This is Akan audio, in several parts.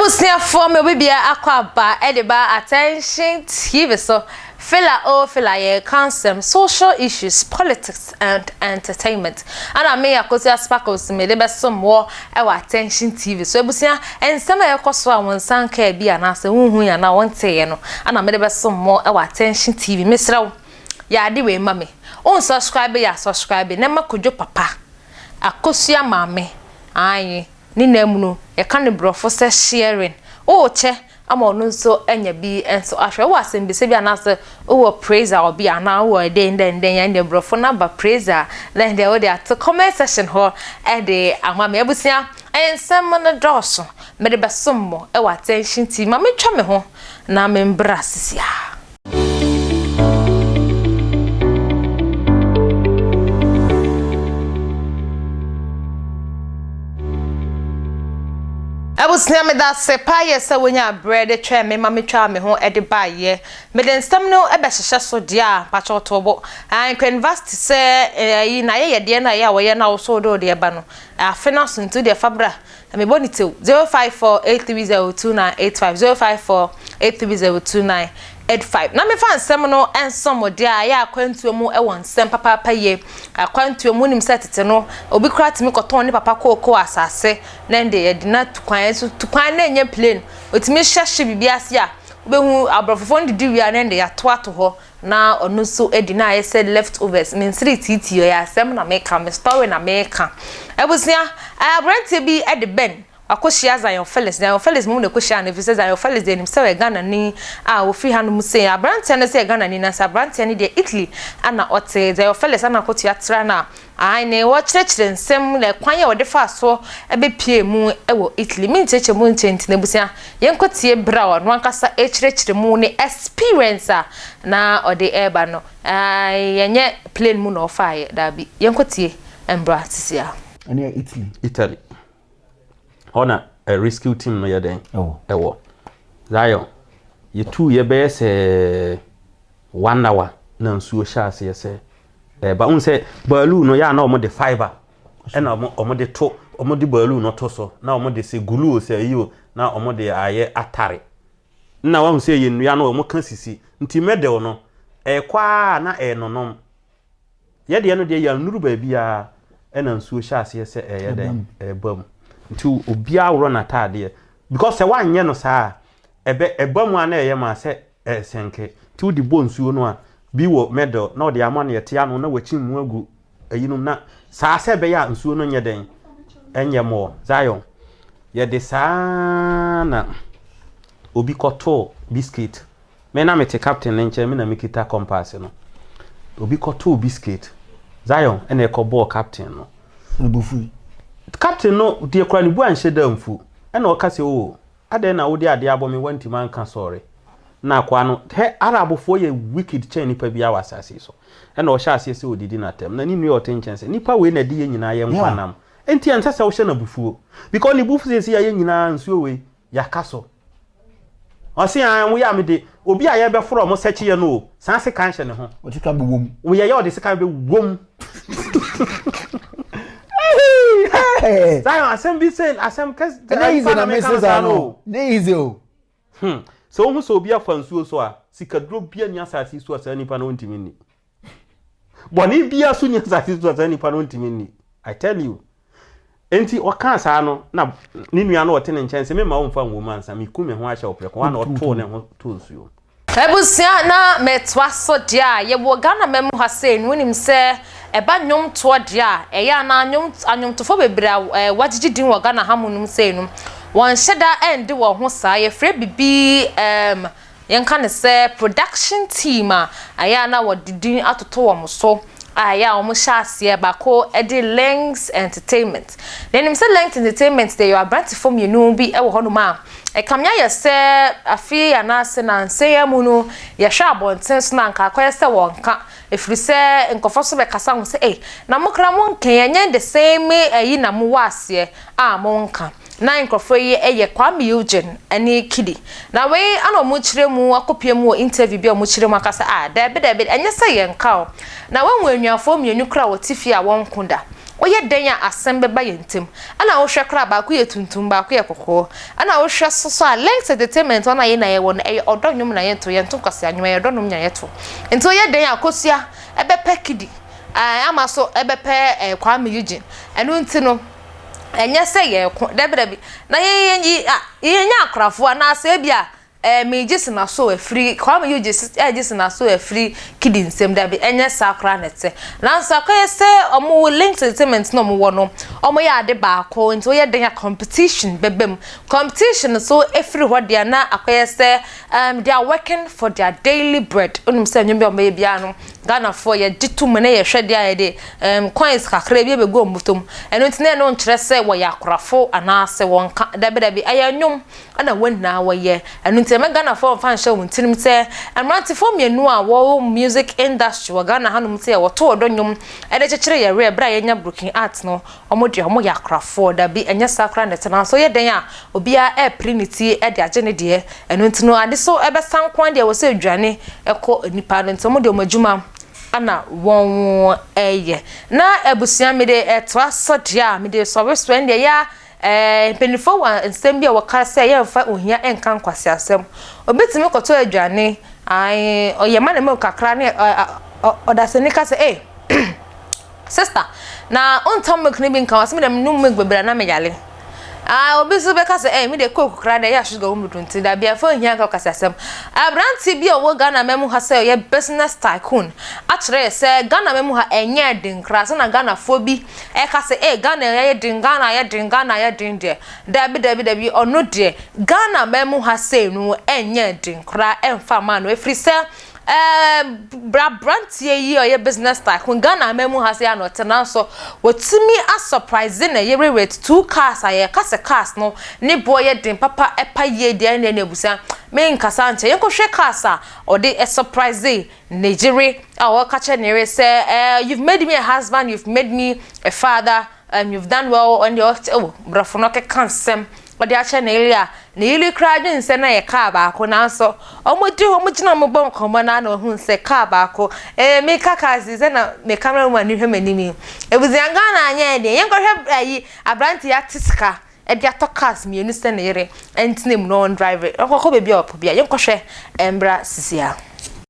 abusuafoɔ ma obi biara akɔ aba de ba attention tv so fela o fela yɛreka nsɛm social issues politics and entertainment ɛna me Akosua Sparkles mede bɛsom wɔ ɛwɔ Attention TV so abusua nsɛm a ɛkɔ so a wɔn nsa nkaa bi anaasɛ wonhu yɛ anaa wɔnteeɛ no ɛna mede bɛsom wɔ ɛwɔ Attention TV mesrɛ wo yɛ ade wei ma me won subscribe yɛ a subscribe na ma kodwo papa Akosua maame aye Ne nan mu no, yɛka no Borɔfo sɛ shearing. Wowɔ kyɛ ama ɔno nso anya bi nso ahwɛ. Wowɔ asɛmbisa bi anaasɛ wowɔ praise a ɔbea anaa wowɔ ɛdɛn dɛn dɛn a, ɛndeɛ Borɔfo no aba praise a, na ɛndeɛ wode ato comment section hɔ de ama me. Abusua, nsɛm no dɔɔso. Mede bɛsom mo wɔ attention TV. Ma mentwa me ho na membra sisiaa. Abusua meda ase paayɛ sɛ wonyaa berɛ de twɛn me ma metwaa me ho de baeɛ. Mede nsɛm no bɛhyehyɛ so deɛ a mpakyɛw to bo. Anchor University sɛ ɛyi n'ayɛyɛdeɛ no a ɛyɛ a wɔyɛ no a woso wode wo deɛ ba no afe no aso nti wodeɛ fa bra Mebɔ no tsew, zero five four eight three zero two nine eight five, zero five four eight three zero two nine eight five. Na mefa nsɛm no nsom mo de a, ɛyɛ akwantuo mu wɔ nsɛm papaapa yie. Akwantuo mu nim sɛ tete no, obi kora tumi kɔtɔn ne papa kookoo asase, na ɛnde yɛde no atu kwan, ɛso tu kwan na ɛnyɛ plane. Otumi hyɛ hye biribi ase a, wobɛhu aborɔfofoɔ no didi wie a na ɛnde yɛatoato hɔ na ɔno nso adi na ayɛ sɛ left overs me nsere tiitii ɔyɛ asɛm na meka me story na meka abusua eh, aberanteɛ bi de bɛn wakɔhyia Zion Felix Zion Felix mmom na ɛkɔhyia no ɛfiri sɛ Zion Felix deɛ nim sɛ ɔyɛ Ghanani a ɔfiri ha no mu sei aberanteɛ no sɛ Ghanani na sɛ aberanteɛ no deɛ Italy ana ɔte Zion Felix ana akɔtua tra no a Aane, wɔkyerɛkyerɛ nsɛm na kwan a wɔde faa so bɛpuee mu wɔ Italy. Me nkyerɛkyerɛ mu nkyɛ nti no, abusua, yɛnkɔ tie berɛ a ɔno ankasa rekyerɛkyerɛ mu ne experience a na ɔde reba no. Aane, ɛnyɛ plane mu na ɔfaaeɛ, daabi. Yɛnkɔ tie mmra sesia. Ɛneɛ Italy. Italy. Hɔ na ɛ rescue team no yɛ dɛn? Ɛwɔ. Zion, yɛtuu yɛ bɛyɛ sɛ one hour na nsuo hyɛ aseɛ sɛ ɛba. Wohu sɛ baalu no yɛ a na wɔde fiber ɛna wɔde to wɔde baalu no to so na wɔde sɛ gulu o sɛ yi o na wɔde ayɛ atare. Na wahu sɛ yɛ nnua no wɔka sisi nti mɛdɛw no ɛkɔ a na ɛnonom. Yɛ deɛ no deɛ yɛannuru baabiara ɛna nsuo hyɛ aseɛ sɛ ɛyɛ dɛn ɛba mu nti obiara worɔ n'ataadeɛ because sɛ woanyɛ no saa ɛbɛ ɛba mu a na ɛyɛ maa sɛ ɛsɛnke nti wode bɔ nsuo no a bi wɔ medal na ɔde ama no yɛte ano na wakyi mu agu ɛyinom na saa sɛ ɛbɛyɛ a nsuo no nyɛ dɛn ɛnyɛ mɔ Zion yɛde saa na obi kɔtoo biscuit Me na mete captain no nkyɛn, me na mekita compass no. Obi kɔtoo biscuit. Zion na ɛkɔbɔɔ captain no. Ne bo fui. Captain no deɛ kora ne bu anhyɛ da mfu. Ɛna ɔka sɛ, Oo, adɛn na wode adeɛ abɔ me woantumi anka sɔre? Na akoa no, hɛ, Arabfoɔ yɛ wicked kyɛn nipa biara wɔ asase yi so. Ɛna ɔhyɛɛ aseɛ sɛ ɔdidi no atɛm. Na ne nua a ɔte nkyɛn sɛ, Nipa wei na ɛde yɛn nyinaa yɛ nkwa nam. Enti ɛnsɛ sɛ wohyɛ no abufuo. Because ne bo fu seesei a yɛn nyinaa, nsuo wei, Yɛaka so. Ɔse aah mo yɛ a mede obi a yɛbɛforo ɔmo sɛkye yɛ no o, saa sekan hyɛ ne ho. Ɔde sekan bɛwɔ mu. Woyɛ yɛ ɔde sekan bɛwɔ mu. Zion asɛm bi sɛ asɛm kɛse. Ɛnɛ yize na mese saa no. Ne yize o. Hmm. Sɛ wohu sɛ obi afa nsuo so a, sikaduro bia ni asase so a saa nipa no wontumi nni. bɔne biara so nyɛ asase so a saa nipa no ntumi nni i tell you nti ɔkaa saa no na ne nua no ɔte ne nkyɛn sɛ mema wo mfa nwom ansa meku me ho ahyɛ wo prɛko a na ɔtoo ne ho too nsuo abusua na metoa so deɛ a yɛwɔ Ghana ma mu ha sei no wonim sɛ ɛba nnwomtoɔ deɛ a ɛyɛ anaa anwomtofoɔ bebree a eh, wɔagyegye din wɔ Ghana ha mu nom sei no wɔnhyɛ da ɛnde wɔ ho saa yɛfrɛ bibi um, Yɛnka no sɛ production team a ɛyɛ a na wɔde din atoto wɔn so a ɛyɛ a wɔhyɛ aseɛ baako de Lengz Entertainment. Na yɛnim sɛ Lengz Entertainment deɛ yɛwɔ aberantefoɔ mmienu bi wɔ hɔnom a ɛkame ayɛ sɛ afe anaasɛ nansa yi ara mu no yɛhwɛ abɔnten so no a nka akɔyɛ sɛ wɔnka ɛfiri sɛ nkurɔfoɔ so bɛkasa ho sɛ ei na mo koraa monka yi ɛnyɛ the same ayi na mowɔ aseɛ a monka. Na nkorɔfoɔ yi yɛ Kwame Eugene ɛne Kidi. Na wei ɛna ɔmo kyerɛ mu akɔ pie mu wɔ interview bi a ɔmo kyerɛ mu aka sɛ ah daabi daabi ɛnyɛ sɛ yɛn ka o. Na wahu anuafoɔ mmienu koraa a wɔte fie a wɔn ko da. Woyɛ dɛn a asɛm bɛba yɛn ntem. Ɛna wohwɛ koraa baako yɛ tuntum baako yɛ kɔkɔɔ. Ɛna wohwɛ so so a Lynx entertainment hɔ no a yɛn nyinaa yɛwɔ no ɛyɛ ɔdɔ nnwom na yɛto yɛnto nkwasea nnwom ɛyɛ ɔdɔ nnwom na yɛto. Nti woyɛ dɛn a kosua ɛbɛpɛ Kidi ɛɛ ama so ɛbɛpɛ ɛɛ Kwame Eugene. Ɛno nti no. ɛnyɛ sɛ yɛreko, dabidabi, na yɛ, yɛ, yɛ, a, yɛnya akorafo anaasɛ ebi a ɛɛ megye sena so afiri kwame yi gye ɛgye sena so afiri kidi nsɛm dabi ɛnyɛ saa koraa na ɛte nanso akɔyɛ sɛ wɔn wɔ links entertainment na wɔn wɔ no wɔn yɛ ade baako nti wɔyɛ den a competition bɛbɛ mu competition so afiri hɔ deɛ na akɔyɛ sɛ um, they are working for their daily bread onum sɛ nnwom bi a wɔyɛ biara no Ghanafoɔ yɛgye to mu na yɛhwɛ deɛ a yɛde ɛɛm coins kakra bi bɛgu wɔn bɔtɔ mu. Ɛno nti na ɛno nkyerɛ sɛ wɔyɛ akorafo anaasɛ wɔnka. Dabi dabi, ɛyɛ nnwom na wɔn nyinaa wɔyɛ. Ɛno nti ɛmma Ghanafoɔ mfa nhyɛ wɔn tirim sɛ mmerantefoɔ mmienu a wɔwɔ music industry wɔ Ghana hanom sɛ wɔto ɔdɔ nnwom de kyekyere yɛn werɛ berɛ a yɛnya broken art no Wɔn deɛ wɔn yɛ akorafoɔ. Dabi, ɛnyɛ saa koraa na ɛte. Nanso yɛ dɛn a obiara repere ne ti de agye ne deɛ. Ɛno nti no, ade so bɛsa nko ara deɛ ɛwɔ sɛ ɛdwane kɔ nnipa ano. Nti wɔn deɛ wɔn adwuma na wɔyɛ. Na abusua me de ɛtoa so deɛ a, me de sɔre so. Ɛndeɛ ɛyɛ a ɛɛ mpaninfoɔ wɔ nsɛm bi a wɔka sɛ yɛmfa ohia nka nkwaseasɛm. Obetumi kɔtɔ aduane, ae, ɔyɛ manamu kakra ne ɔdasani ka sɛ ei, Sister, na ontɔ milk no bi nka ho, ɔse medɛ menom milk bebree a na meyare. Ah, obi so bɛka sɛ eh, medeɛ coke koraa deɛ ɛyɛ a sugar wɔ mu dodo nti dabi ɛmfa nhia nka ɔkaseasɛm. Aberanteɛ bi a ɔwɔ Ghana man mu ha sɛ ɔyɛ business tycoon akyerɛ yɛ sɛ Ghana man mu ha ɛnyɛɛ den koraa sɛ na Ghanafoɔ bi ɛka sɛ eh, Ghana ayɛ den, Ghana ayɛ den, Ghana ayɛ den deɛ. Dabi dabi dabi, ɔno deɛ Ghana man mu ha sei no ɛnyɛɛ den koraa ɛmfa mmaa no ɛfiri sɛ Ɛɛ bra abranteɛ yi a ɔyɛ business tycoon Ghana aman mu ha sei a na ɔte nanso watumi a surprise ne yere with two cars a yɛka sɛ cars no ne boɔ yɛ den papa ɛpa yie deɛ ne n'abusua me nkasa nkyɛ yɛnkɔ hwɛ cars a ɔde surprise ne yere a ɔka kyerɛ ne yere sɛ ɛɛ you've made me a husband you've made me a father And you've done well on the oath oh brɔfo no keka nsɛm ɔde akyɛ Neely a Neely koraa dwen sɛ na ɛyɛ car baako nanso ɔmo di hɔ ɔmo gyina ɔmo bɔ nkɔmmɔ no ara na ohun sɛ car baako eh meka cars yi sɛ na me camera woman no hwɛ m'anim yi Abusua Ghana anyɛ ɛdeɛn yɛnkɔhwɛ ayi aberanteɛ yi ate sika de atɔ cars mmienu sɛ ne yere ntena mu na ɔn drive na ɔnkɔkɔ baabi a ɔpɛ biara yɛnkɔhwɛ ɛmbra sisia.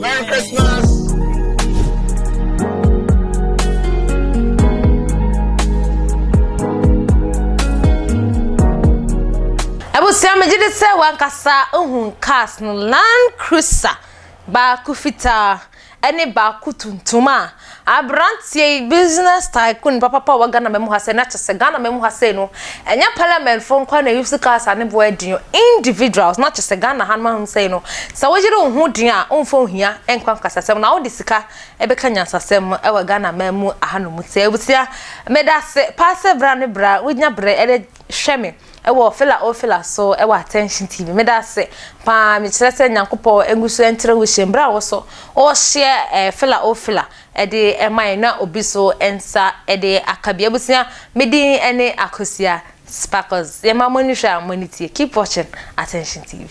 Merry Christmas! abusua megye de sɛ wankasa ohun cars no land cruiser baako fitaa ɛne baako tuntum a Aberanteɛ yi, business tycoon papapa a ɔwɔ Ghana mmamu ha sei, na kyɛ sɛ Ghana mmamu ha sei no, ɛnyɛ parliament foɔ nko ara na use cars a ne boɔ yɛ den o, individuals, na kyɛ sɛ Ghana ha no ha sei no, sɛ wo yere wo ho den a, womfa ohia nkɔ nkasasɛm, na wode sika bɛka nyansasɛm wɔ Ghana mmamu ha nom. Nti abusua, meda ase paa sɛ bra ne bra, wonya berɛ de. Hwɛ me wɔ Fela O Fela so wɔ Attention TV. Meda ase paa, mekyerɛ sɛ Nyankopɔn ngu so nkyerɛ wo hyɛ mu. Berɛ a wo so worehyɛ eh, Fela O Fela de ma yɛn na obi so nsa de aka bi. Abusua, me din ne Akosua Sparkles. Yɛma mo ani hwɛ a mo ani tie. Keep watching Attention TV.